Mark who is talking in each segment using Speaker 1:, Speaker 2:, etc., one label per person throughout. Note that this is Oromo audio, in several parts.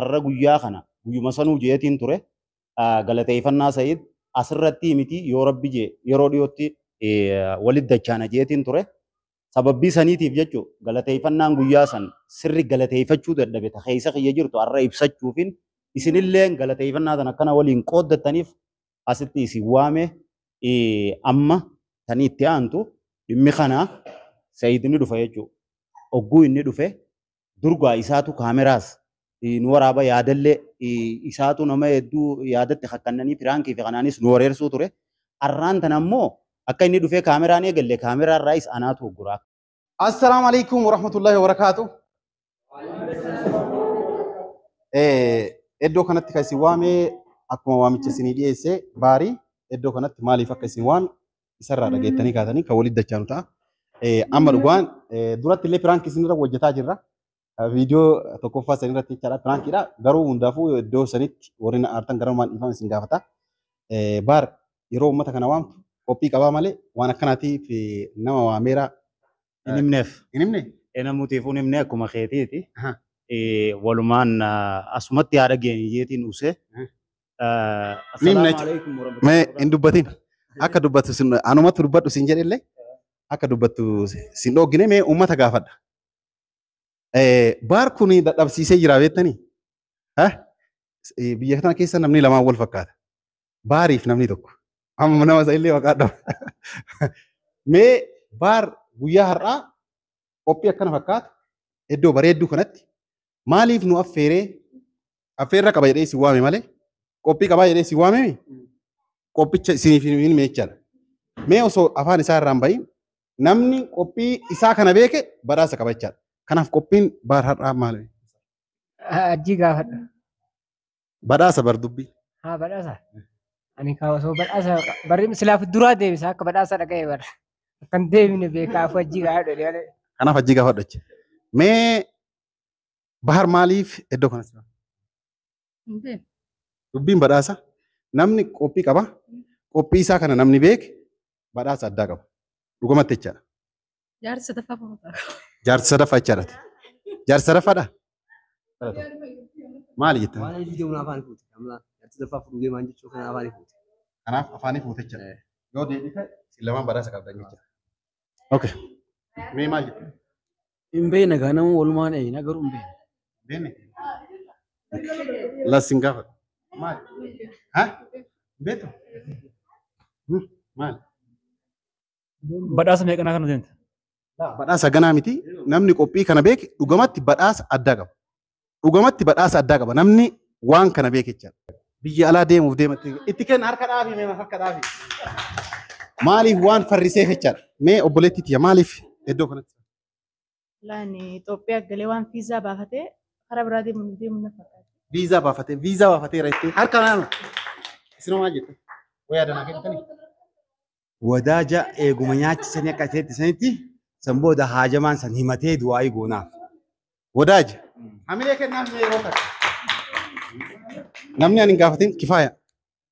Speaker 1: har'a guyyaa kana guyyuma sanuu jeetiin ture galateeffannaa Sa'iid asirratti miti yoo rabbi jee yeroo dhiyootti walitti dachaana jeetiin ture. Sababbii saniitiif jechuun galateeffannaan guyyaa san sirri galateeffachuu dadhabe ta keessa kiyya jirtu har'a ibsachuufin isinillee galateeffannaa tan akkana waliin qooddattaniif asitti isin waame amma tan itti aantu dhimmi kana Sa'iid ni dhufa jechuudha. Ogguu inni dhufe durgaa isaatu kaameraas nu waraaba yaadallee isaatu nama hedduu yaadatti kakkannanii piraankii fi kanaanis nu wareersuu ture. Arraan tana ammoo akka inni dhufee kaameraan eegalle kaameraa irraayis anaatu ugguraa. Assalaamu alaikum warahmatullahi wabarakaatu. Iddoo kanatti kan isin waame akkuma waamicha isinii dhiyeesse baarii iddoo kanatti maaliif akka isin waame isarraa dhageettanii kaatanii kan walitti dachaanu ta'a. Eh, Amma dhugaan eh, duratti illee piraanki isinirra hojjetaa jirra. Eh, Viidiyoo tokkoffaa isinirratti jechaadha piraankiidha. Garuu hundaafuu iddoo sanitti warri na aartan gara maal dhiifama isin gaafata. Eh, Baar yeroo uummata kana waamtu qophii qabaa malee waan akkanaatiif eh, nama waameera Hin himneef. Hin himne? Enamutiifuu hin himne akkuma keetiiti. Aha. Eh, Walumaan ah, asumatti haa dhageenyu jeetiin uuse. Hmm. Miin na- Mee hin dubbatin. Akka dubbattu sin anumatu dubbadhu sin jedhillee akka dubbattu sin dhoggine mee uummata gaafadha. Eh, Baar kun dadhabsiisee jira beektanii? Ha? Eh, Biyya kana keessa namni lamaan wal fakkaata. baariif namni tokko amma nama isa illee maqaa dhaba. Mee baar guyyaa har'aa qophii akkana fakkaatu iddoo bareedduu kanatti maaliif nu affeeree affeerra qaba jedhee isin waame malee qophii qabaa jedhee isin waame qophicha isiniif hin meechadha. Mee osoo afaan isaa irraan bahin namni qophii isaa kana beeke badhaasa qaba jechaadha. Kanaaf qophiin baar har'aa maali?
Speaker 2: Ajjii gaafadha.
Speaker 1: Badhaasa bar dubbi. Haa badhaasa.
Speaker 2: Ani kaa osoo badhaasa barri silaaf duraa deebisa akka badhaasa dhaga'e bara. Akkan deebine beekaa afuu hajjii kaa dhodhe malee. Kanaaf hajjii gaafadhu
Speaker 1: jecha. Mee bahar maaliif iddoo kanas jira? Dubbiin badhaasa namni qophii qaba. Qophii isaa kana namni beeke badhaasa addaa qaba. Dhugumatti jechaadha. Jaarsa sadaffaa
Speaker 3: fuudhaa. Jaarsa sadaffaa jecha
Speaker 1: irratti. Jaarsa sadaffaadha? Maali jettan? Waan hojii deemuun afaan fuute.
Speaker 4: Amma jaarsa sadaffaa fuudhuu deemaan jechuun kan afaan fuute. Kanaaf afaanii
Speaker 1: fuute jecha. Yoo deebite isin lamaan badhaasa qabdan jecha. Okay. Mee maal jettan? Hin beekne
Speaker 4: gaa nama walumaan eegna garuu hin beekne. Beekne?
Speaker 1: Las hin gaafatu. Maali? Ha? Beektu? Hmm, Maali?
Speaker 5: Badhaasa meeqanaa kana deemte? Badhaasa ganaa
Speaker 1: miti. Namni qophii kana beeke dhugamatti badhaasa addaa qaba. Dhugamatti badhaasa addaa qaba. Namni waan kana beeke jechaadha. Biyya alaa deemuuf deematti itti kenna harka dhaabi mee harka dhaabi. Maaliif waan farriseef jechaadha. Mee obboleettii tiyya maaliif iddoo kanatti? Laan
Speaker 3: Itoophiyaa galee waan fiizaa baafatee karaa biraa deemu hin deemu na fakkaata. Viizaa baafatee viizaa
Speaker 1: baafateera jettee harka naanu. Isin homaa jettan. Wayaa danaa kennitanii.
Speaker 6: Wadaaja eeguma nyaachisanii akka ta'etti sanitti san booda haajamaan san himatee du'aa'ii goonaaf. Wadaaja.
Speaker 1: Hamilee kennaaf mee yeroo kana. Namni ani hin gaafatin kifaaya.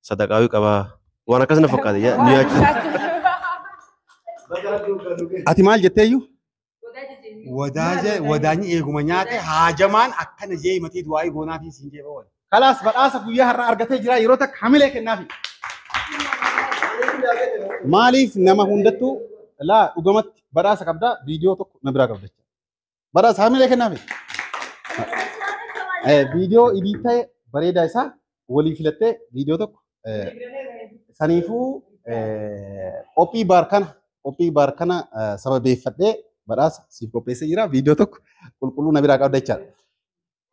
Speaker 7: sadaqaawii qabaa waan akkas na fakkaate yaa- nu yaachisa.
Speaker 1: Ati maal jetteeyyu? Wadaaje
Speaker 6: wadaanyi eeguma nyaate haajamaan akkana jee himatee du'aa'ii goonaa fi siin jee bawwan. Kalaas badhaasa guyyaa
Speaker 1: har'a argatee jira yeroo takka hamilee kennaafi. Maaliif nama hundattuu laa dhugamatti badhaasa qabdaa viidiyoo tokko na biraa qabda. Bara saamilee kennaame. Eh, Viidiyoo idii ta'e bareedaa isaa walii filattee viidiyoo tokko eh, saniifuu eh, qophii baar kana qophii baar kana eh, sababeeffadhee badhaasa siif qopheessee jira viidiyoo tokko qulqulluu na biraa qabda jechaadha.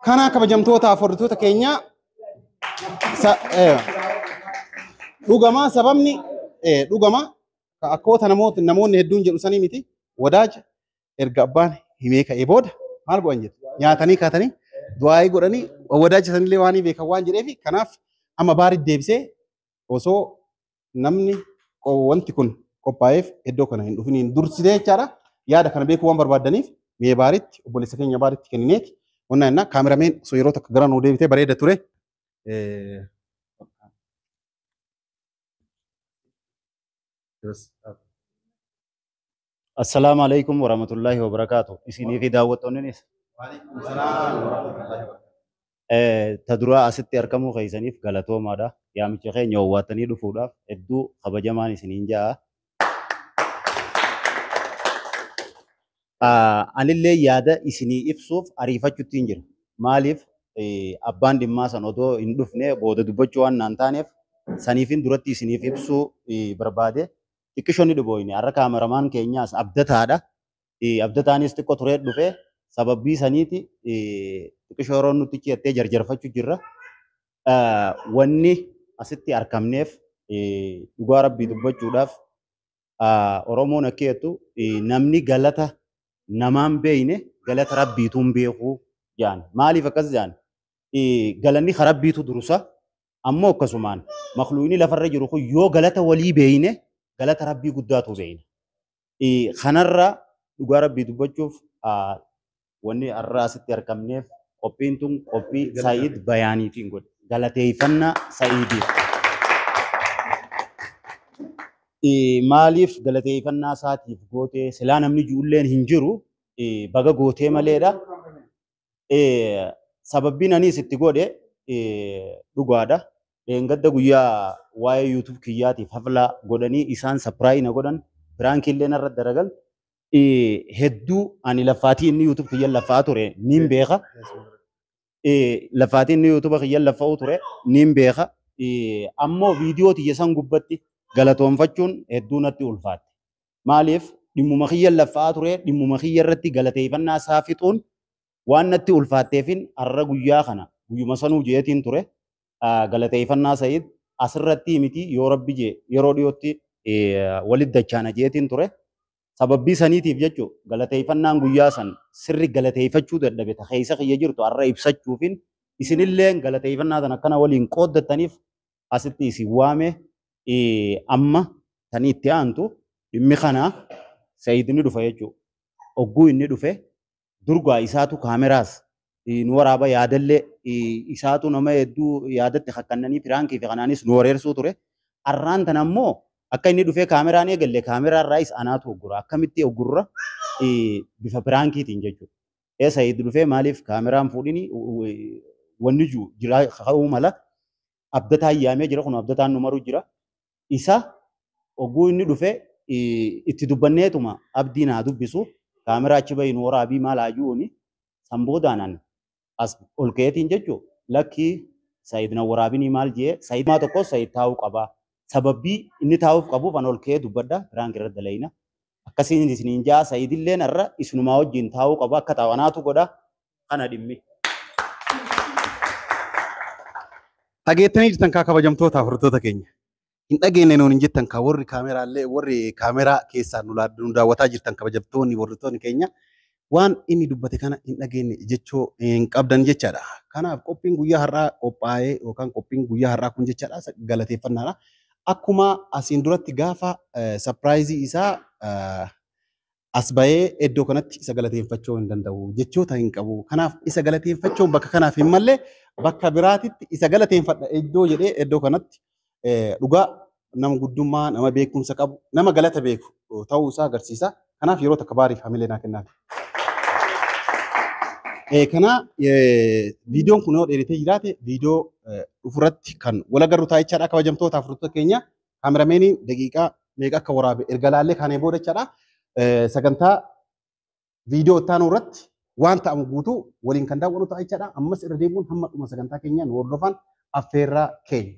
Speaker 1: Kana kabajamtoota afurditoota keenya sa- eh,
Speaker 6: dhugama sababni eh, dhugama ka- akkoota namoota namoonni hedduun jedhu sanii miti wadaaja erga abbaan himee ka'ee booda maal godhan jedhe nyaatanii kaatanii du'aa'ii godhanii wadaajjisanillee waan beekan waan jedheef kanaaf amma baaritti deebisee osoo namni qo- wanti kun qophaa'eef iddoo kana hin dhufiniin dursitee jechaadha yaada kana beekuu waan barbaadaniif mee baaritti obboleessa keenya baaritti kennineeti wanna innaa kaamerameen osoo yeroo takka gara nuu deebitee bareeda ture. Eh,
Speaker 1: Yes. Assalaamu alaikum warahmatullahi wabarakaatu. Isinii fi daawwattoonninis. Eh, Ta duraa asitti argamuu keessaniif galatoomaadha. Yaamicha keenya hawwattanii dhufuudhaaf hedduu kabajamaan isiniin ja'a. Ah, Anillee yaada isinii ibsuuf ariifachuutti hin jiru. Maaliif eh, abbaan dhimmaa san odoo hin dhufne booda dubbachuu waan naan taaneef saniifin duratti isiniif ibsuu eh, barbaade. xiqqisho ni dhibooyne har'a kaameramaan keenyaas abdataadha abdataanis xiqqo turee dhufe sababbii saniiti xiqqisho yeroo nutti ciyattee jarjarfachu jirra wanni asitti arkamneef dhugaa rabbii dubbachuudhaaf oromoon akka jettu namni galata namaan beeyne galata rabbiituun beekuu jaan maaliif akkas jaan galanni ka rabbiitu durusa Ammoo akkasumaan makhluuqni lafarra jiru kun yoo galata walii beeyne galata Rabbii guddaatu beeyna. Eh, Kanarra dhugaa Rabbii dubbachuuf ah, wanni har'a asitti argamneef qophiin tun qophii Sa'iid Bayaaniitiin godhe. Galateeffannaa Sa'iidiif. Eh, maaliif galateeffannaa isaatiif gootee silaa namni ji'ulleen hin jiru eh, baga gootee maleedha. sababbiin aniis itti godhe dhugaadha. Dheengadda guyyaa waa'ee YouTube kiyyaatiif haflaa godhanii isaan sapiraayii na godhan piraankii illee narra daragan hedduu ani laffaatii inni YouTube kiyyan laffaa ture niin beeka. Laffaatii inni YouTube kiyyan laffa'uu ture niin beeka. Ammoo viidiyoo tiyya san gubbatti galatoonfachuun hedduu natti ulfaatte. Maaliif dhimmuma kiyyan laffa'aa ture dhimmuma kiyya irratti galateeffannaa isaa fixuun waan natti ulfaatteefin har'a guyyaa kana guyyuma sanuu jeetiin ture galateeffannaa Sa'iid asirratti miti yoo rabbi jee yeroo dhiyootti walit dachaana jeetiin ture. Sababbii saniitiif jechu galateeffannaan guyyaa san sirri galateeffachuu dadhabe ta keessa kiyya jirtu har'a ibsachuufin isinilleen galateeffannaa tan akkana waliin qooddattaniif asitti isin waame amma tani itti aantu dhimmi kana Sayid ni dhufa jechuudha. Ogguu inni dhufe durgaa isaatu kaameraas nu waraaba yaadallee isaatu nama hedduu yaadatti kakkannanii piraankii fi kanaanis nu wareersuu ture. Arraan tana ammoo akka inni dhufee kaameraan eegalle kaameraa irraayis anaatu oggura akkamitti oggurra bifa piraankiitiin jechuudha. ee sayid dhufee maaliif kaameraan fuudhini wanni jiru jiraa ka'uu mala abdataa yaamee jira kun abdataan nu maruu jira isa oguu inni dhufee itti dubbanneetuma abdii naa dubbisu kaameraa achi bahi nu waraabii maal haajuuni san boodaanan as ol ka'eetiin jechuu lakkii sayid na waraabinii maal jee sayid maa tokko sayid taa'uu qabaa sababbii inni taa'uuf qabuuf an ol ka'ee dubbadha piraank irra dalayna akkasiin isiniin ja'a sayidilleen har'a isinumaa wajjin taa'uu qaba akka taa'u anaatu godha kana dhimmi.
Speaker 6: Dhageettanii jirtan kaa kabajamtoota hordoftoota keenya. Hin dhageenye nuun hin jettan kaa warri kaameraallee warri kaameraa keessaan nu laaddu nu daawwataa jirtan kabajamtoonni hordoftoonni keenya waan inni dubbate kana hin dhageenye jechuu hin qabdan jechaadha. Kanaaf qophiin guyyaa har'aa qophaa'ee yookaan qophiin guyyaa har'aa kun jechaadha galateeffannaadha. Akkuma asiin duratti gaafa sapiraayizii isaa as bahee iddoo kanatti isa galateeffachuu hin danda'u jechoota hin qabu. Kanaaf isa galateeffachuun bakka kanaaf hin malle bakka biraatitti isa galateeffadha iddoo jedhee iddoo kanatti Dhugaa nama guddummaa, nama beekumsa qabu, nama galata beeku ta'uu isaa agarsiisa. Kanaaf yeroo takka baariif hamilee naa kennaa. Kana viidiyoon kun yoo dheeratee jiraate viidiyoo dhufurratti kan wal agarru ta'a jechaadha kabajamtoota afurtoota keenya. Kaamerameeniin daqiiqaa meeqa akka waraabe erga laallee kaanee booda jechaadha. Sagantaa viidiyoo itti aanu irratti waan ta'amu guutuu waliin kan daawwannu ta'a jechaadha. Ammas irra deebi'uun hamma dhuma sagantaa keenyaa nu hordofaan affeerraa keenya.